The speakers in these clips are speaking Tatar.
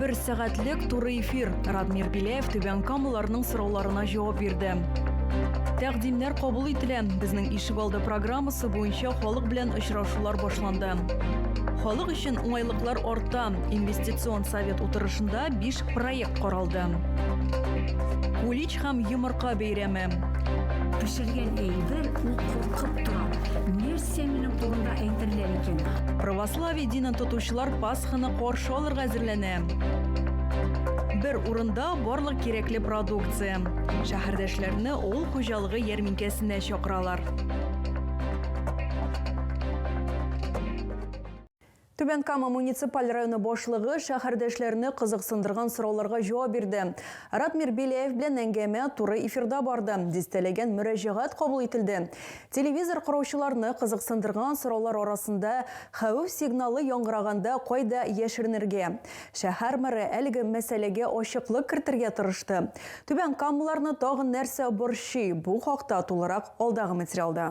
Бер сәгатьлек туры эфир. Радмир Беляев түбән камыларның сорауларына җавап бирде. Тәкъдимнәр кабул ителә. Безнең ишегалды программасы буенча халык белән очрашулар башланды. Халык өчен уңайлыклар арта. Инвестицион совет утырышында 5 проект каралды. Улич һәм йомырка бәйрәме. Пешергән әйбер ул Кып тора. Нәрсә минем турында әйтерләр икән? Православие динен тотучылар Пасханы каршы алырга әзерләнә. Бер урында барлык кирәкле продукция. Шәһәрдәшләрне авыл хуҗалыгы ярминкәсенә чакыралар. Түбән Кама муниципаль районы башлыгы шәһәрдәшләрне кызыксындырган сорауларга җавап бирде. Радмир Беляев белән әңгәмә туры эфирда барды, дистәләгән мөрәҗәгать кабул ителде. Телевизор караучыларны кызыксындырган сораулар арасында хәвеф сигналы яңгыраганда кайда яшеренергә? Шәһәр мэры әлеге мәсьәләгә ачыклык кертергә тырышты. Түбән камалыларны тагын нәрсә борчый? Бу хакта тулырак алдагы материалда.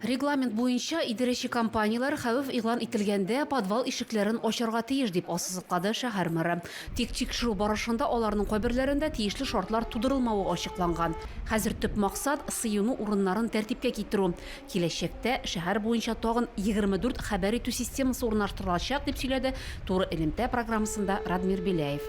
Регламент буенча, идарәче компанияләр хәвеф игълан ителгәндә подвал ишекләрен ачарга тиеш, дип ассызыклады шәһәр мэры. Тик тикшерү барышында аларның кайберләрендә тиешле шартлар тудырылмавы ачыкланган. Хәзер төп максат, сыену урыннарын тәртипкә китерү. Киләчәктә шәһәр буенча тагын 24 хәбәр итү системасы урнаштырылачак, дип сөйләде Туры элемтә программасында Радмир Беляев.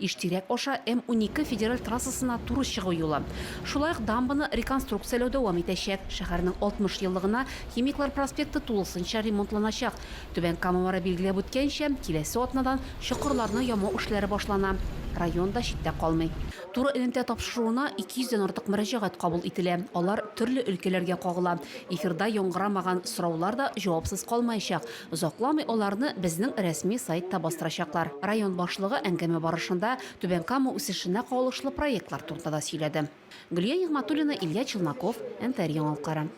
Иштирәк аша М-12 федераль трассасына туры чыгу юлы. Шулай ук дамбаны реконструкцияләү дәвам итәчәк. Шәһәрнең 60 еллыгына Химиклар проспекты тулысынча ремонтланачак. Түбән Камамара билгеләп үткәнчә, киләсе атнадан чокырларны ямау эшләре башлана. Район да читтә калмый. Туры элемтә тапшыруына 200 дән артык мөрәҗәгать кабул ителә. Алар төрле өлкәләргә кагыла. Эфирда яңгырамаган сораулар да җавапсыз калмаячак, Озакламый аларны безнең рәсми сайтта бастырачаклар. Район башлыгы әңгәмә барышында Түбән Кама үсешенә кагылышлы проектлар турында да сөйләде. Гөлия Нигъмәтуллина, Илья Челноков, НТР яңалыклары.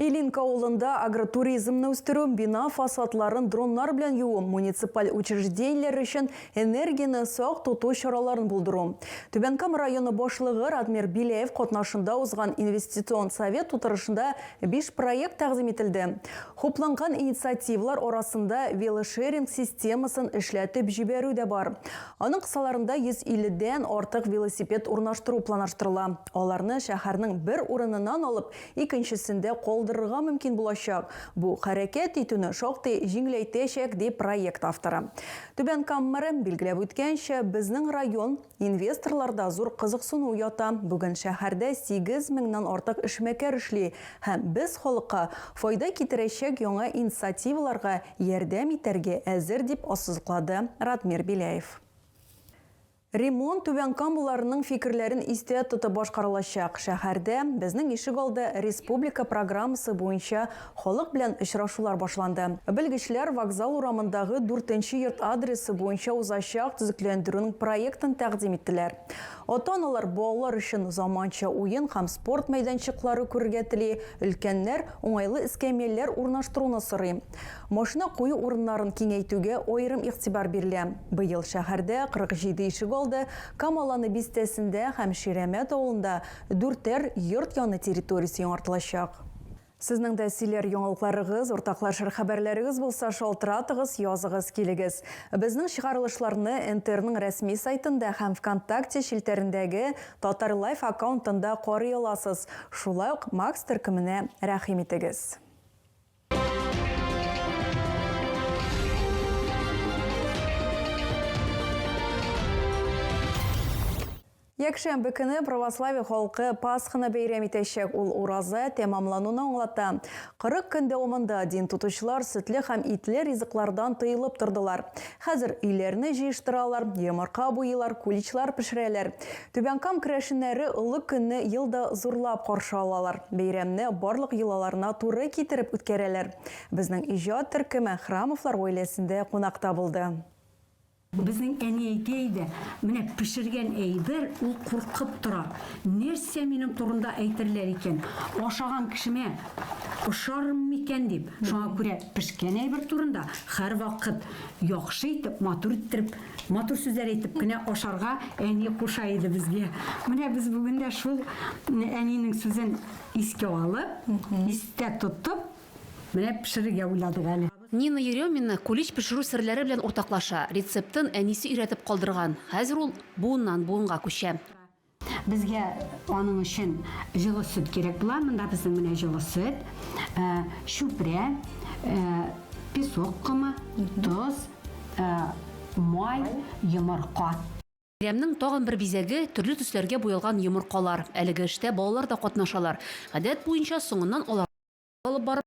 Илинка авылында агротуризмны үстерү, бина фасадларын дроннар белән юу, муниципаль учреждениеләр өчен энергияне сак тоту чараларын булдыру. Түбән Кама районы башлыгы Радмир Беляев катнашында узган инвестицион совет утырышында Биш проект тәкъдим ителде. Хупланган инициативалар арасында велошеринг системасын эшләтеп җибәрү дә бар. Аның кысаларында 150 дән артык велосипед урнаштыру планаштырыла. Аларны шәһәрнең бер урыныннан алып, икенчесендә калдырырга мөмкин булачак. Бу хәрәкәт итүне шактый җиңеләйтәчәк, ди проект авторы. Түбән Кама мэры билгеләп үткәнчә, безнең район, Инвесторларда зур кызыксыну ята. Бүген шәһәрдә сигез меңнан артык эшмәкәр эшли һәм без халыкка файда китерәчәк яңа инициативаларга ярдәм итәргә әзер, дип ассызыклады Радмир Беляев. Ремонт Түбән Камаларның фикерләрен истә тотып башкарылачак. Шәһәрдә Безнең ишек алды республика программасы буенча Халык белән очрашулар башланды. Белгечләр Вокзал урамындагы дүртенче йорт адресы буенча узачак төзекләндерүнең проектын тәкъдим иттеләр. Ата-аналар балалар өчен заманча уен һәм спорт мәйданчыклары күрергә тели, өлкәннәр уңайлы эскәмияләр урнаштыруны сорый. Машина кую урыннарын киңәйтүгә аерым игътибар бирелә. Быел шәһәрдә 47 ишегалды, Камаланы бистәсендә һәм Ширәмәт авылында дүртәр йорт яны территориясе яңартылачак. Сезнең дә сөйләр яңалыкларыгыз, уртаклашыр хәбәрләрегез булса, шалтыратыгыз, языгыз, килегез. Безнең чыгарылышларны НТРның рәсми сайтында һәм ВКонтакте челтәрендәге Татар Лайф аккаунтында карый аласыз. Шулай ук Макс төркеменә рәхим итегез. Якшәмбе көне православие халкы Пасханы бәйрәм итәчәк, ул ураза тәмамлануны аңлата. Кырык көн дәвамында дин тотучылар сөтле һәм итле ризыклардан тыелып тордылар. Хәзер өйләрне җыештыралар, йомырка буйлар, куличлар пешерәләр. Түбән Кам керәшеннәре олы көнне ел да зурлап каршы алалар, бәйрәмне барлык йолаларына туры китереп үткәрәләр. Безнең иҗат төркеме Храмовлар гаиләсендә кунакта булды. Безнең әни әйтә иде, Менә пешергән әйбер, ул куркып тора. Нәрсә минем турында әйтерләр икән? Ашаган кешемә ошармын микән дип. Шуңа күрә пешкән әйбер турында һәрвакыт яхшы итеп, матур иттереп, матур сүзләр әйтеп кенә ашарга әни куша иде безгә. Менә без бүген дә шул әнинең сүзен искә алып, истә тотып, менә пешерергә уйладык әле. Нина Еремина кулич пешерү серләре белән уртаклаша. Рецептын әнисе өйрәтеп калдырган. Хәзер ул буыннан буынга күчә. Безгә аның өчен җылы сөт кирәк була. Монда безнең менә җылы сөт, чүпрә, песок комы, тоз, май, йомырка. Бәйрәмнең тагын бер бизәге, төрле төсләргә буялган йомыркалар. Әлеге эштә балалар да катнашалар. Гадәт буенча, соңыннан аларны алып барып.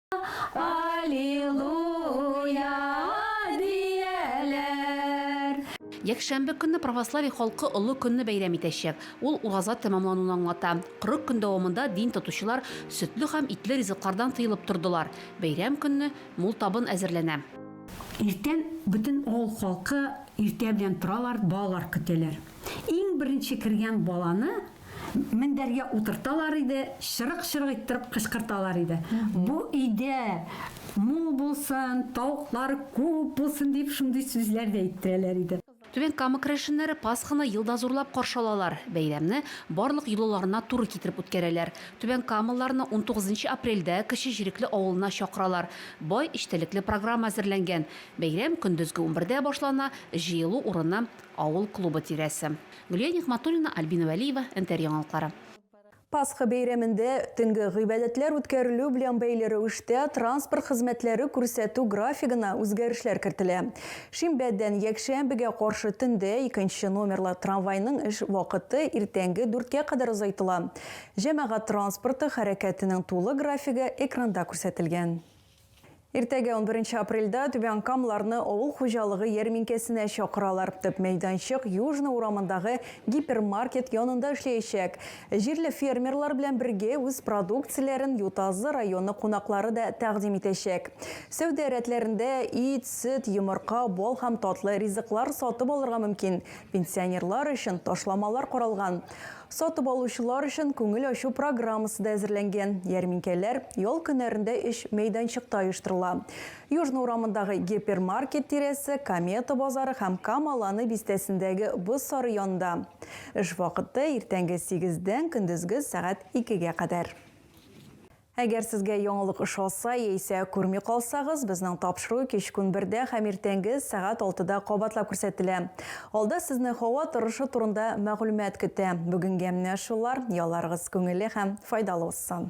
Якшәмбе көнне православие халкы олы көнне бәйрәм итәчәк. Ул ураза тәмамлануны аңлата. 40 көн дәвамында дин тотучылар сөтле һәм итле ризыклардан тыелып тордылар. Бәйрәм көнне мул табын әзерләнә. Иртән бөтен авыл халкы иртә белән торалар, балалар көтәләр. Иң беренче кергән баланы Мендәргә утырталар иде, чырык-чырык иттереп кычкырталар иде. Бу өйдә мул булсын, тавыклар күп булсын дип шундый сүзләр дә әйттерәләр иде. Түбән Кама керәшеннәре Пасханы ел да зурлап каршы алалар. Бәйрәмне барлык йолаларына туры китереп үткәрәләр. Түбән Камалыларны унтугызынчы апрельдә Кече Җирекле авылына чакыралар. Бай эчтәлекле программа әзерләнгән. Бәйрәм көндезге унбердә башлана, җыелу урыны, авыл клубы тирәсе. Гөлия Нигъматуллина, Альбина Вәлиева, НТР яңалыклары. Пасха бәйрәмендә төнге гыйбадәтләр үткәрелү белән бәйле рәвештә транспорт хезмәтләре күрсәтү графигына үзгәрешләр кертелә. Шимбәдән якшәмбегә каршы төндә икенче номерлы трамвайның эш вакыты иртәнге дүрткә кадәр озайтыла. Җәмәгать транспорты хәрәкәтенең тулы графигы экранда күрсәтелгән. Иртәгә, унберенче апрельдә, түбәнкамларны авыл хуҗалыгы ярминкәсенә чакыралар. Төп мәйданчык Южный урамындагы гипермаркет янында эшләячәк. Җирле фермерлар белән бергә үз продукцияләрен Ютазы районы кунаклары да тәкъдим итәчәк. Сәүдә рәтләрендә ит, сөт, йомырка, бал һәм татлы ризыклар сатып алырга мөмкин. Пенсионерлар өчен ташламалар каралган. Сатып алучылар өчен күңел ачу программасы да әзерләнгән. Ярминкәләр ял көннәрендә өч мәйданчыкта оештырыла. Южный урамындагы гипермаркет тирәсе, Комета базары һәм Кама Ланы бистәсендәге боз сары янында. Эш вакыты, иртәнге сигездән көндезге сәгать икегә кадәр. Әгәр сезгә яңалык ошаса яисә күрми калсагыз, безнең тапшыру кичкүн бердә һәм иртәнге сәгать алтыда кабатлап күрсәтелә. Алда сезне һава торышы турында мәгълүмат көтә. Бүгенгә менә шулар, ялларыгыз күңелле һәм файдалы узсын!